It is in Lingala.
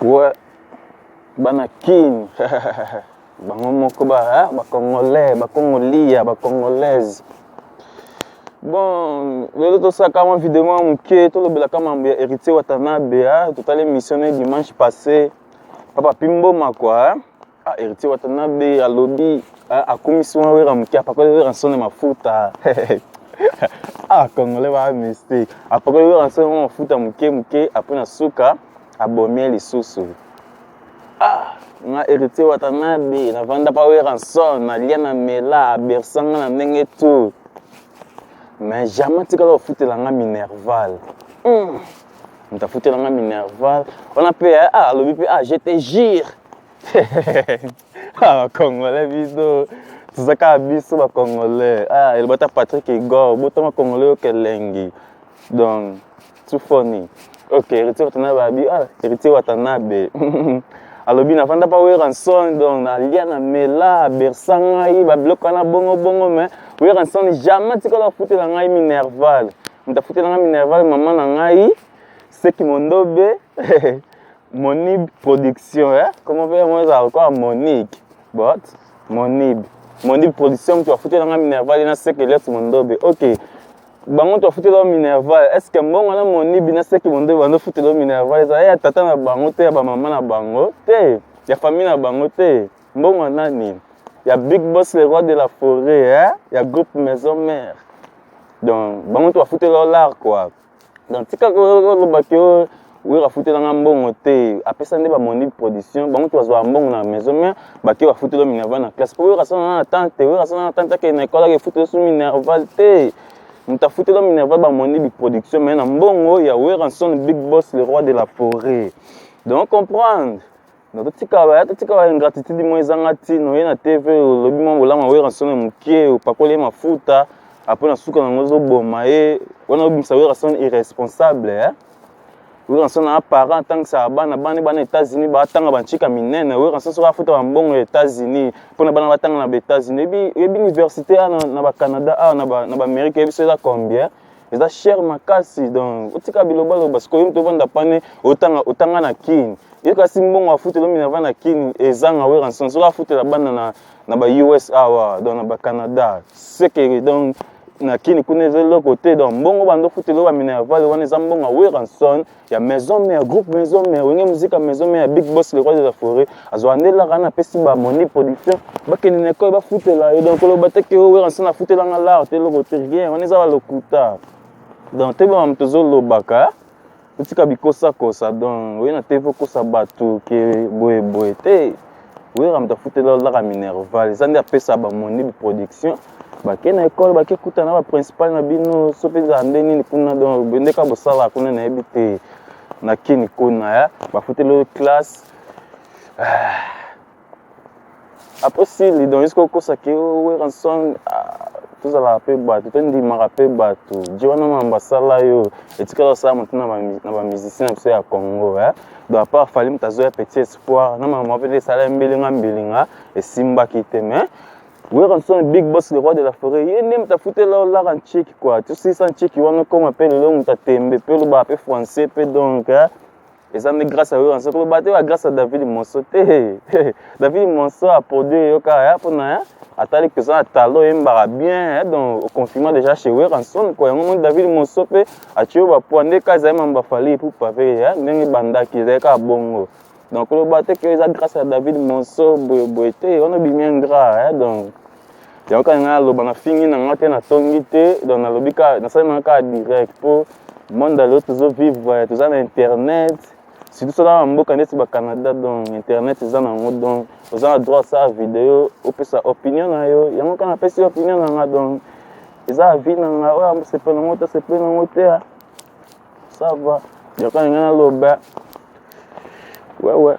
Ouais, bana kin bango moko ba hein, ba congolais ba congolia ba congolaise bon lelo tosalaka mwa video mwa moke tolobelaka mambo ya héritier watanabe hein? totali émission ne dimanche passé papa pimboma kua hein? Ah, Héritier Watanabe alobi ah, akumisi wana wera moke apakoli wera nsone mafuta ah congolais ba mystique apakoli wera nsone mwa mafuta moke moke apres na suka abomi lisusu ah nga Héritier Watanabe navanda pa wera nsone nalia na mela abersa nga na ndenge tout mais jamais atikala kofutela nga minerval mm. moto afutela nga minerval wana mpe eh, ah, alobi mpe ah je te jure ah, congolais biso toza kaka biso bacongolais ah, eloba ta patrick igor botama congolais yo kelengi donc tufoni ok héritier watanabe abi ah, héritier watanabe alobi nafanda mpa weranson donc nalia na mela bersa ngai babiloko wana bongobongo mais weranson jamais tikala afutela ngai minerval moto afutela ngai minerval mama na ngai seki mondobe Monib production eh comment faire moi ça quoi Monique but Monib Monib production mtu afutela nga Minerval na seke let's mondobe okay bango to afutela yo minerval est ce que mbongo na monibi na seki mondobi bando futela yo minerval ezala ya tata na bango te ya bamama na bango te ya famille na bango te mbongo nani ya big boss le roi de la forêt eh? ya groupe maison mère donc bango to afutela yo lar quoi donc tika koloba ke oh, wera afutela nga mbongo te apesa nde bamondi production bango te bazwaka mbongo na maison mare bake bafutela minerval na classe mpo wera asala nga na tante wera asala nga na tante akende na ekole ake efutela so minerval te moto afutela minerval bamondi biproduction mai na mbongo ya weranson big boss le roi de la forêt donc comprendre Donc totika ba totika ba ingratitude mo ezanga tino ye na TV olobi mo bolama wera sone mukie opakole mafuta après na suka nango ezoboma ye wana obimisa wera sone irresponsable eh? wera sone na parent atangisaka bana bana bana États-Unis batanga banchika minene wera sone soki afuta bambongo ya États-Unis mpo na bana batanga na ba États-Unis ebi ebi université awa na ba Canada awa na ba na ba Amérique ebi so eza combien eza cher makasi donc otika bilobaloba sikoyo moto ovanda pane otanga otanga na kin ye kasi mbongo afutela minerva na kin ezanga weranson soki afutela bana na, na ba us awa donc na ba canada sekele donc na kin kuna eza eloko te donc mbongo banda ofutela ba minerval wana eza mbongo ya weranson ya maison mère groupe maison mère wenge muzika maison mère big boss le roi de la forêt azwa nde lara na pesi ba moni production bakende na ekole bafutela ye donc koloba te ke owera nse nafutela nga lara te eloko te rien wana eza balokuta donc toyebaka moto ezolobaka otika bikosakosa donc oye na tv okosa bato ke boye boye te wera moto afutela olaka minerval eza nde apesa bamoni biproduction bake na ekole bake kuta na baprincipal na bino so mpe ezala nde nini kuna donc bendeka bosala kuna nayebi te na kini kuna ya bafutela oyo classe ah. apres sili donc eske okosa ke oh, weranson ah, tozalaka mpe bato tondimaka mpe bato je wana mambo asala yo etikala osala motu na bamusicien na biso ya congo donc apart fali moto azoya petit victoire na makambo mpe esalami mbilinga mbilinga esimbaki te mais Werrason Big Boss le roi de la forêt ye nde moto afutela yo laka nceki kua tosisa nceki wana okoma mpe lelo moto atembe mpe olobaka mpe français mpe donc eza nde grâce ya Werrason koloba te ya grâce ya David Monso te David Monso aproduire yo kaka ya mpo na ya atali mpenza na talo oyembaka bien donc oconfirma déjà chez Werrason kua yango moni David Monso mpe Atshiyo ba poids nde kaza ye mamba Fally Ipupa pe ya hein, ndenge bandaki ezali kaka bongo donc loba te que eza grâce à David Monso boye boye te wana obimi ingrat hein donc yango kaka ngai naloba na fingi na ngai te na tongi te donc nalobi kaka nasali nanga kaka direct po monde ya lelo tozo vivre toza na internet surtout soki na mboka ndeti ba Canada donc internet eza na yango donc oza na droit osala video opesa opinion na yo yango kaka napesi opinion na ngai donc eza avi na ngai oyo amosepela nango te asepeli nango te ah. sava yoka ndenge naloba wewe